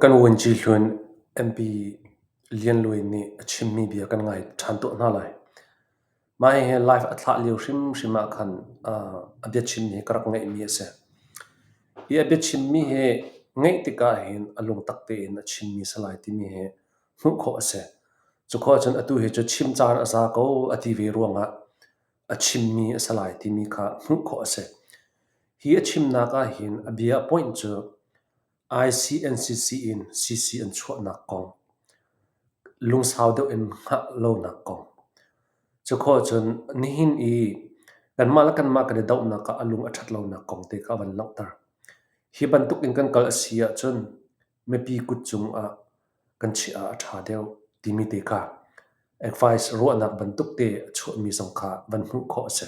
Kan vuanci hlun MP Lian Luai nih a chimmi bia kan ngai ṭhan tuah hna lai. Mah hihi live a thlah lio hrimhrim ah khan a biachimmi hi ka rak ngeihmi a si. Hi a biachimmi hi ngeih tikah hin a lungtak tein a chimmi a si lai timi hi hmuh khawh a si. Cu khawh ahcun atu hi cu chim caan a za ko a ti ve ruangah a chimmi a si lai timi kha hmuh khawh a si. Hi a chimnak ahhin a bia a point cu ICNCC in CC an chuahnak kong, lungsau deuh in hngah lonak kong. Cukhua cun nihin i kanmah le kanmah kan i dohnak ah a lung a ṭhat lonak kong te kha a van langhter. Hi bantuk in kan kal a si ahcun Mipi kut cungah kan chiah ah a ṭha deuh timi te kha advice ruahnak bantukte a chuahmi zong kha van hmuh khawh a si.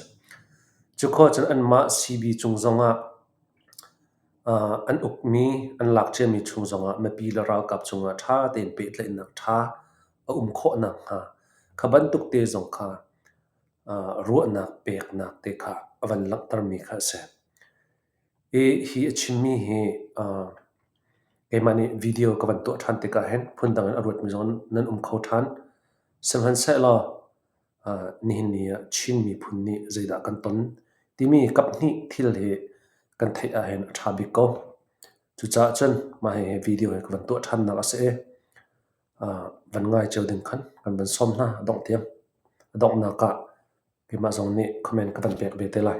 Cu khawh cun anmah CB cung zongah uh, an ukmi, an lakciami chung zongah mipi le ralkap cungah ṭha tein pehtlaihnak ṭha a um khawh nakhnga kha bantukte zong kha uh, ruahnak peknak te kha a van langhtermi kha a si. Hi a chimmi hi keimah nih video ka van tuah ṭhan tikah hin phundang in a ruatmi zong nan um kho ṭhan. Sihmanhsehlaw nihin ni ah Chin miphun nih zeidah kan ton timi kaphnih thil hi kan theih ahhin a ṭha bik ko. Cucaah cun mah hihi video hi ka van tuah ṭhannak a si i van ngai cio ding khan kan van sawm hna a dongh tiang. A donghnak ah keimah zong nih comment ka van pek ve te lai.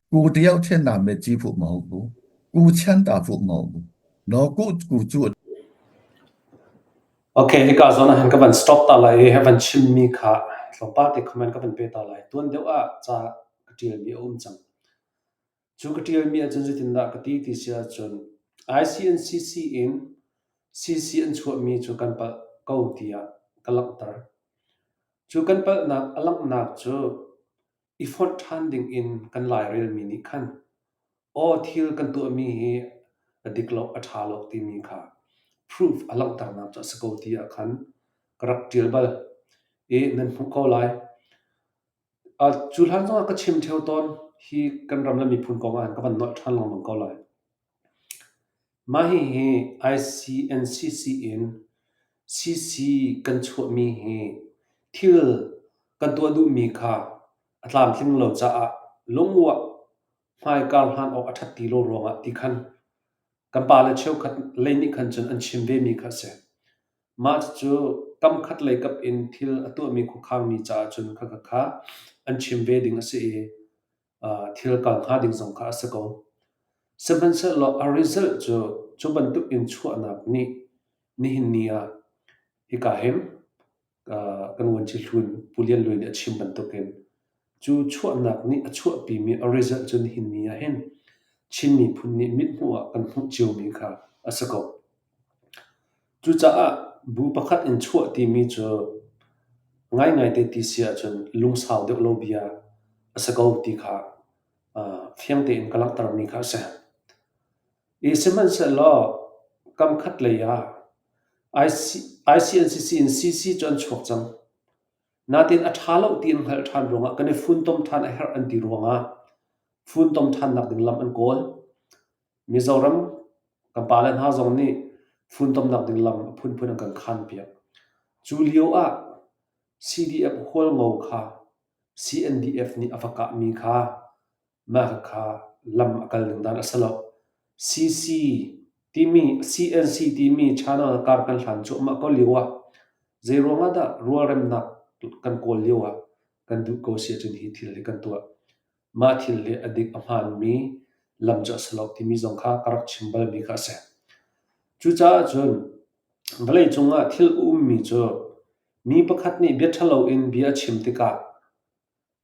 Ku tiau ṭhen na me chi fu mo bu. Ku chan ta fu mo bu. No ku ku chu Okay, nika zona han ka van stop ta lai he van chim mi kha thlopa te comment ka van pe ta lai tuan deuh a cha ka tial mi om chang chu ka tial mi achun zitin da ka ti ti sia chun ICNCC in CC an chuah mi chu kan pal ko tia ka lang tar chu kan pal nak alang nak chu i fonh ṭhan dingin kan lairelmi nih khan aw thil kan tuahmi hi a dik lo a ṭha lo timi kha proof a langhternak cu a si ko ti ah khan ka rak ṭial bal i nan hmuh ko lai. Uh, cu hlan zongah ka chim ṭheo tawn hi kan ram le miphun kong ah hin ka van nolh ṭhan lengmang ko lai. Mah hihi ICNCC in CC kan chuahmi hi thil kan tuah duhmi kha a tlamtling lo caah lunguah hmaikar hlan awk a ṭhat ti lo ruangah ti khan kan pale cheukhat lei nih khan cun an chim vemi kha a si. Mah cucu kamkhat lei kap in thil a tuahmi khuakhangmi caah cun khakha an chim ve ding a si i thil ka hnga ding zong kha a si ko. Sihmanhsehlaw a result cu cu bantuk in chuahnak nih nihin ni ah hika hin kan vuanci hlun Pu Lian Lwe nih a chim bantukin cu chuahnak nih a chuahpimi a result cu nihin ni ah hin Chin miphun nih mithmuh ah kan hmuh ciomi kha a si ko. Cucaah bu pakhat in chuah timi cu ngaingai te ti si ahcun lungsau deuh lo bia a si ko ti kha fiang tein ka langhtermi kha a si. I sihmanhsehlaw kamkhat lei ah ICNCC in CC cu an chuak cang. Nain a ṭha lo ti an hngalh ṭhan ruangah kan i funtom ṭhan a herh an ti ruangah funtom ṭhannak ding lam an kawl. Mizoram kan pale hna zong nih funtomnak ding lam a phunphun an kan khanpiak. Cu lio ah CDF hualngo kha CNDF nih a va kahmi kha mah kha lam a kal ning dan a si lo. CC timi CNC timi channel kar kan hlan cuahmah ko lio ah zeiruang ah dah rualremnak kan kawl lio ah kan duh ko sia cun hi thil hi kan tuah. mah thil hi a dik a hmaanmi lam cu a si lo timi zong kha ka rak chim balmi kha a si. Cucaah cun vawleicung ah thil a ummi cu mi pakhat nih bia ṭhalo in bia a chim tikah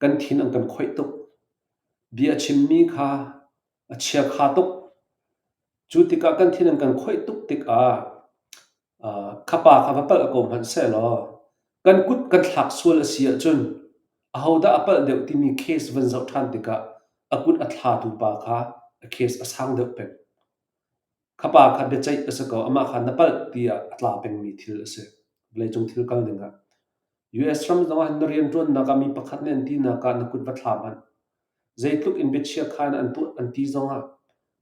kan thin an kan khoih tuk. Bia a chimmi kha a chiakha tuk. Cu tikah kan thin an kan khoih tuk tikah uh, khapa kha va palh ko hmanh sehlaw kan kut kan thlak sual a si ahcun ahodah a palh deuh timi case van zoh ṭhan tikah a kut a thlatu pa kha a case a sang deuh peng. Khapa kha biaceih a si ko, amah kha na palh tiah a tla pengmi thil a si. Vawleicung thil kal dingah. US ram zongah na rianṭuannak ah mi pakhat nih an tinak ah na kut va thla hmanh. Zeitluk in biachiakha na an tuah an ti zongah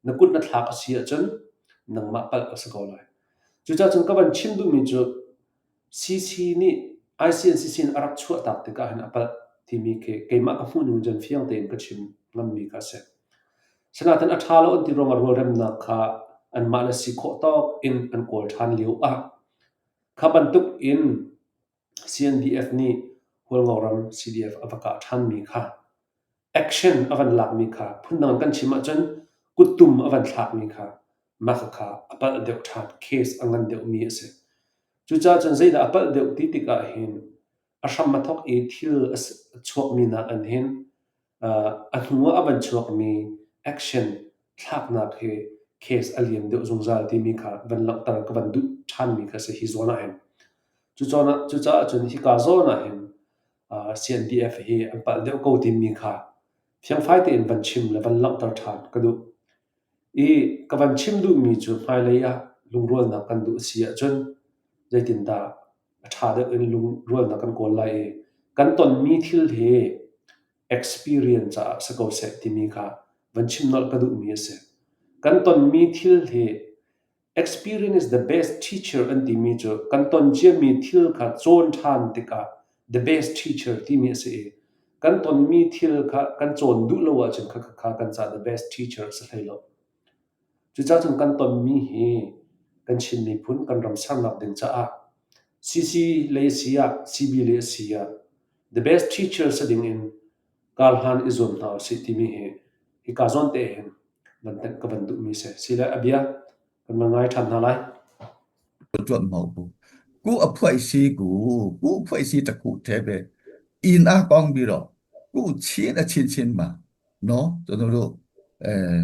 na kut na thlak a si ahcun nangmah palh a si ko lai. Cucaah cun ka van chim duhmi cu CC nih ICNCC in a rak chuahtak tikah hin a palh timi khi keimah ka hmuhning cun fiang tein ka chim ngammi kha a si. Sinain a ṭha lo an ti ruangah rualremnak kha anmah na si khawh tawk in an kawl ṭhan lio ah kha bantuk in CNDF nih Hualngoram CDF a va kah ṭhanmi kha action a van lakmi kha phundang kan chim ahcun kuttum a van thlakmi kha mah kha a palh deuh ṭhan case a ngan deuhmi a si. Cucaah cun zeidah a palh deuh ti tikah hin a hram a thawk i thil a chuakmi nakin hin a hnu ah a van chuakmi action thlaknak hi case a lian deuh zungzal timi kha van langhter ka van duh ṭhanmi kha si hi zawn ah hin cucaah cun hika zawn ah hin CNDF hi an palh deuh ko timi kha fiangfai tein van chim le van langhter ṭhan ka duh i ka van chim duhmi cu hmailei ah lungrualnak kan duh a si ahcun zeitindah a ṭha deuh in lungrualnak kan kawl lai i kan tonmi thil hi experience caah si ko seh timi kha van chim nolh ka duhmi a si. Kan tonmi thil hi experience is the best teacher an timi cu kan ton ciami thil kha cawn ṭhan tikah the best teacher timi a si i kan tonmi thil kha kan cawn duh lo ahcun kha kha kan cah the best teacher a si hlei lo. Cucacung kan tonmi hi kan Chin miphun kan ram sernak ding caah CC le asi ah CB le asi ah the best teacher si ding in kar hlan i zuam hna usih timi hi hika zawn te hin nan tenh ka van duhmi si sile a bia kan van ngai ṭhan hna lai. Tuan mau bu. Ku a phuai si ku, ku phuai si ta ku the be. In a kong biro. Ku chin a chin chin ma. No, to no do. Eh,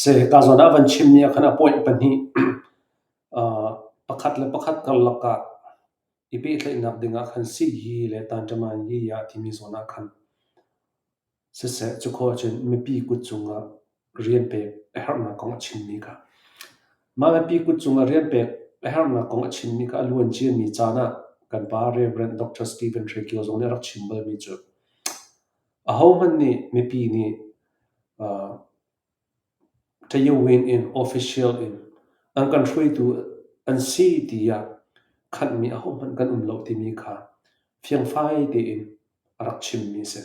Seh, kaa zawn ah van chim nia khan a point pahnih. Aa pakhat le pakhat karlak ah i pehtlaihnak ding ah khan sihyi le tanṭamanyi ah timi zawn ah khan siseh cu khawh ahcun mipi kut cung ah rian pek a herhnak kong a chimmi kha. Mah mipi kut cung ah rian pek a herhnak kong a chimmi kha a luan ciami caan ah kan pa Rev. Dr. Stephen Hre Kio zong nih a rak chim balmi cu ahohmanh nih mipi nih Tayawein in official in an kan hruaitu an si tiah khanhmi ahohmanh kan um lo timi kha fiangfai tein a rak chimmi a si.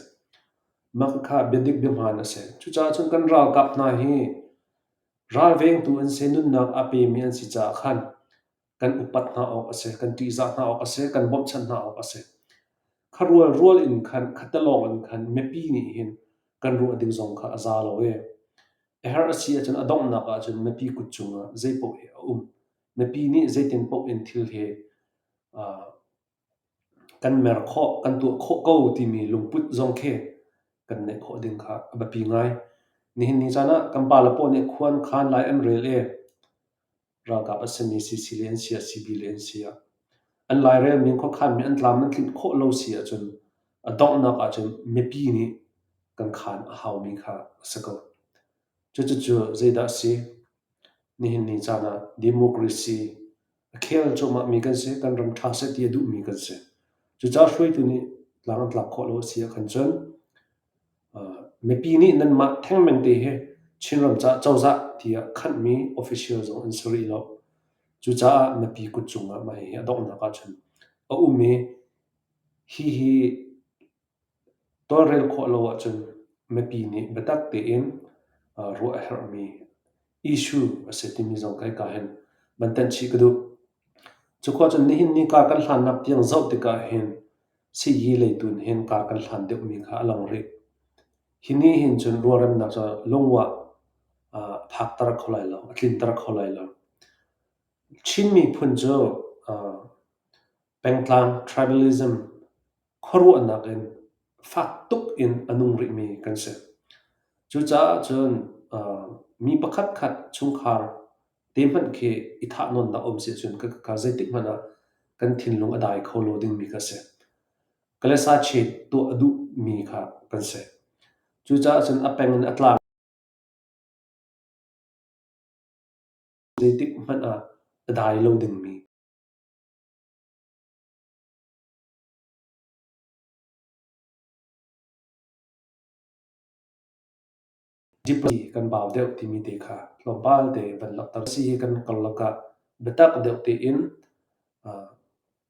Mah kha biadik biahmaan a si. Cucaah cun kan ralkap hna hi ralvengtu an si, nunnak a pemi an si caah khan kan upat hna awk a si, kan ṭihzah hna awk a si, kan bawmhchanh hna awk a si. Kha rual rual in khan, khatalawng in khan mipi nih hin kan ruah ding zong kha a za lo e. A har a si ahcun a donghnak ahcun mipi kut cungah zeipaoh hi a um. Mipi nih zeitin paoh in thil hi uh, kan mer khawh, kan tuah khawh ko timi lungput zong khi kan neih khawh ding kha a biapi ngai. Nihin ni caan ah kan pale paoh nih khuan khaan lai an rel i ralkap a simi CC le an si ah CB le an si ah an lairelmi khuakhanmi an tlam nan tlinh khawh lo si ahcun a donghnak ahcun mipi nih kan khaan a haumi kha a si ko. Cucu cu zeidah a si? Nihin ni caan ah democracy A khel cuahmahmi kan si, kan ram ṭha seh ti a duhmi kan si. Cucaah hruaitu nih tlang an tlak khawh lo a si ahkhan cun mipi nih nanmah thengmengte hi Chinram caah cozah tiah khanhmi official zong an si rih lo. Cucaah mipi kut cungah mah hihi a donghnak ahcun a um i hihi Tawlrel khawh lo ahcun mipi nih biatak tein ruah a herhmi issue a si timi zong kai kaa hin van thanh chih ka duh. Cukuah cun nihin ni kaa kan hlannak tiang zoh tikah hin sayi lei tun hin kaa kan hlan deuhmi kha a lang rih. Hi ni hin cun rualremnak cu lungwah phakter kho lai lo, a tlinter kho lai lo. Chin miphun cu pengtlang tribalism khuaruahnak in fak tuk in a nung rihmi kan si. Cucaah cun mi pakhatkhat chungkhar te hmanh khi i thahnawnnak a um si ahcun ka ka zeitik hmanh ah kan thinlung a dai kho lo dingmi ka si. Ka le sa chit tuah a duhmi kha kan si. Cucaah cun a peng in a tlang zeitik hmanh ah a dai lo dingmi Diplomacy kan bau deuh timi te kha tlawmpal te van langhter si hi kan karlak ah biatak deuh tein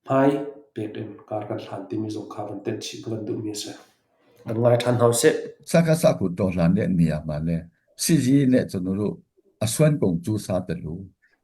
hmai pek in kar kan hlan timi zong kha van tenh chih van duhmi a si. Kan ngai ṭhan hau sih. Saka saku to hlan le ni ama le sizi ne chunuru asuan kong cu sa telu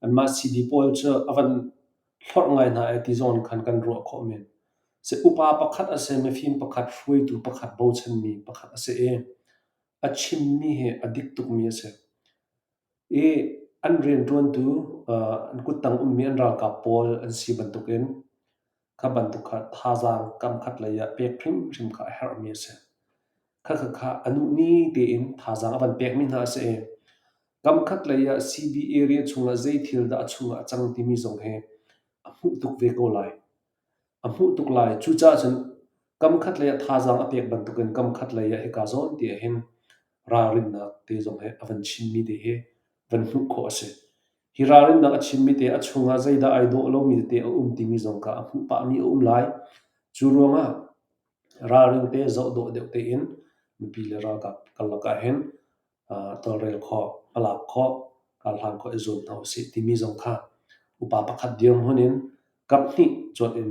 Anmah CD pawl cu a van hlorh ngai hna i ti zong in khan kan ruah khawh men. Si upa pakhat a si, mifim pakhat, hruaitu pakhat, bochanmi pakhat a si i a chimmi hi a dik tukmi a si. I an rianṭuantu, an kuttang ummi an ralkap pawl an si bantukin Kha bantuk kha thazaang kamkhat lei ah pek hrimhrim kha a herhmi a si. Khakha a nuh ni tein thazaang a van pekmi hna a si i, kamkhat lei ah CB area chungah zei thil dah a chungah a cang timi zong hi a hmuh tuk ve ko lai. A hmuh tuk lai. Cucaah cun kamkhat lei ah thazaang a pek bantukin kamkhat lei ah hika zawn ti ahhin ralrinnak te zong he a van chimmi te hi van hmuh khawh a si. Hi ralrinnak a chimmi te a chungah zeidah ai dawh lomi tete a um timi zong kha a hmuh pahmi a um lai. Cu ruangah ralring te zoh dawh deuh tein mipi le ralkap karlak ah hin tawlrel khawh, hmalak khawh, ralhang khawh i zuam hna usih timi zong kha upa pakhat dirhmun in kaphnih cuanh in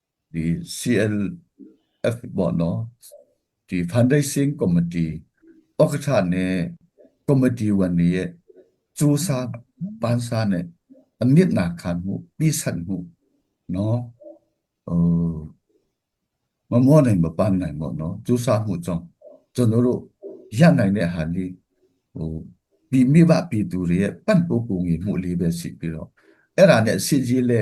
CLF ti Foundation Committee pakhat nih committee one nih cu sa van sa nih a mitnak khan hmu pi sat hmu no ma mo nai ma pan nai mo no cu sa hmu chong chun ru ya nai ne han hi pi mi wa pi tu ri pan pu ku ngi mu li ve si pi ro era ne si ji le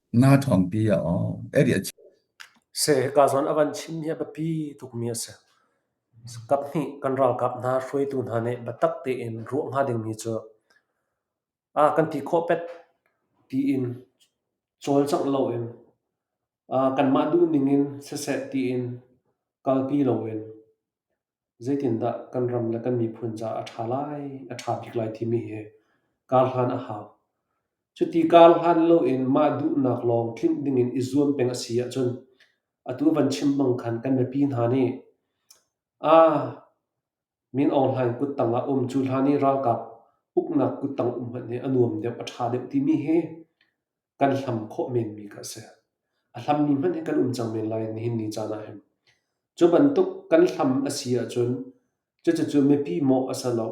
Naa ṭhawnpi a awk a ri a chia. Se hika zawn a van chim hi a biapi tukmi a si. Kaphnih kan ralkap hna hruaitu hna nih biatak tein ruah hnga dingmi cu a kan ti khawh pet tiin cawlcangh loin kanmah duhning in siseh tiin kalpi loin Zeitindah kan ram le kan miphun caah a ṭha lai, a ṭha bik lai timi hi kar hlan a hau. Cuti kar hlan loin mah duhnak lawng tlinh dingin i zuam peng a si ahcun atu van chim bang khan kan mipi hna nih aa Min Aung Hlaing kut tangah um cu hlan i ralkap uknak kut tang um hmanh hi a nuam deuh, a ṭha deuh timi hi kan hlam khawh menmi kha a si. A hlammi hmanh hi kan um cang men lai nihin ni caan ah hin. Cu bantuk kan hlam a si ahcun cucu mipi mawh a si lo.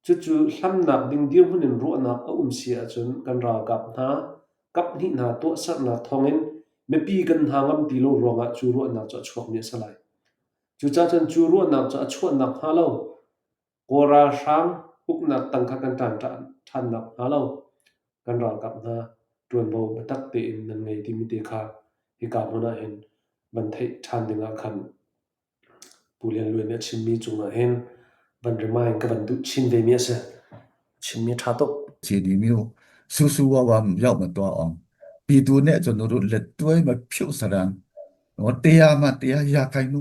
Cucu hlamnak ding dirhmun in ruahnak a um si ahcun kan ralkap hna kaphnih hna tuahsernak thawngin mipi kan hna ngam ti lo ruangah cu ruahnak cu a chuakmi a si lai. Cucacun cu ruahnak cu a chuahnak hnga lo Kawl ralhrang uknak tang kha kan ṭan ṭhan nakhnga lo kan ralkap hna ṭuanvo biatak tein nan ngei timi te kha hika hmun ah hin van theih ṭhan dingah khan Pu Lian Luai nih a chimmi cungah hin van remind ka van duh chin vemi a si chimmi ṭha tuk cidi miu susu wawam yau ma tua ong pi tu ne chon rut let tuai ma phiu sarang o tea ma tea ya kai nu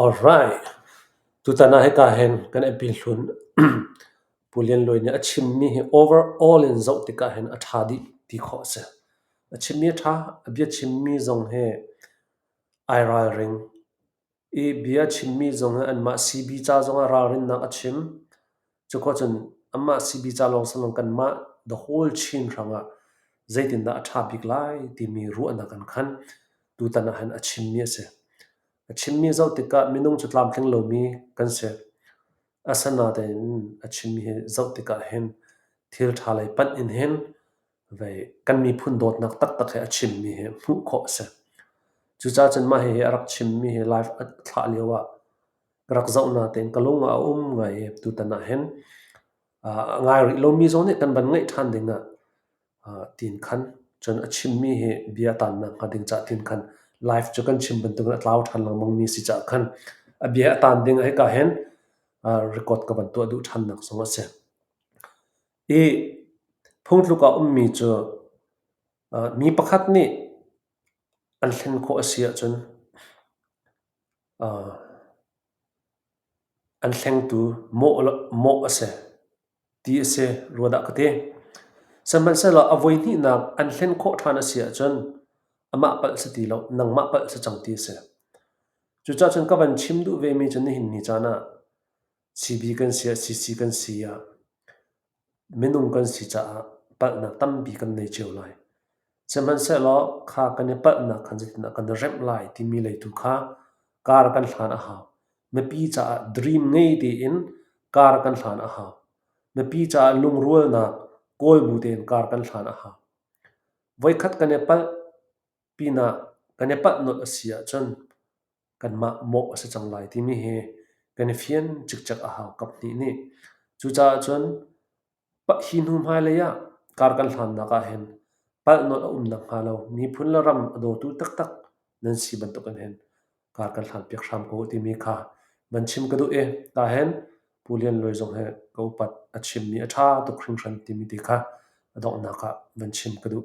Alright, tutan ah hika hin kan apil hlun Pu Lian Luai nih a chimmi hi overall in zoh tikah hin a ṭha dih ti khawh a si. A chimmi a ṭha, a bia chimmi zong hi ai ralring. I bia chimmi zong hi anmah CB ca zong ah ralrinnak a chim. Cukhawcun anmah sibica lawngsanlawng kanmah the whole Chin hrangah zeitindah a ṭha bik lai timi ruahnak an khan. Tutan ahhin a chimmi a si. A chimmi a zoh tikah minung cu tlamtling lomi kan si. Asinain a chimmi hi zoh tikah hin thil ṭha lei panh in hin vei kan miphun dawtnak taktak he a chimmi hi hmuh khawh a si. Cucaah cun mah hihi a rak chimmi hi live a thlah lioah rak zoh natein ka lung ah a um ngai i tutan ahhin a ngai rih lomi zong nih kan van ngeih ṭhan ding ah tiin khan cun a chimmi hi bia a taannak hnga ding caah tiin khan live cu kan chim bantukin a tlau ṭhan lengmang mi si caah khan a bia a taan ding hika hin record ka van tuah duh ṭhannak zong a si. I phungtluk ah ummi cu mi pakhat nih an thlen khawh a si ahcun An hlengtu mawh a si ti a si rua dah ka ti. Sihmanhsehlaw a voihnihnak an hlen khawh ṭhan a si ahcun amah palh si ti lo, nangmah palh si cang ti a si. Cucacun ka van chim duh vemi cu nihin ni caan ah CB kan si ah CC kan si ah minung kan si caah palhnak tampi kan nei cio lai. Sihmanhsehlaw kha kan i palhnak khan zeitindah kan i remh lai timi lei tu kha kar kan hlan a hau. Mipi caah dream ngei tein kar kan hlan a hau. Mipi caah lungrualnak kawl bu tein kar kan hlan a hau. Voikhat kan i palh pinah kan i palh nolh a si ahcun kanmah mawh a si cang lai timi hi kan i fian cikcek a hau kaphnih nih. Cucaah cun hi hnu hmailei ah kar kan hlannak ahhin palhnawn a um nakhnga lo miphun le ram a dawtu taktak nan si bantuk in hin kar kan hlanpiak hram ko u timi kha van chim ka duh i tah hin Pu Lian Luai zong hi ka upat a chimmi a ṭha tuk hringhran timi ti kha a donghnak ah van chim ka duh.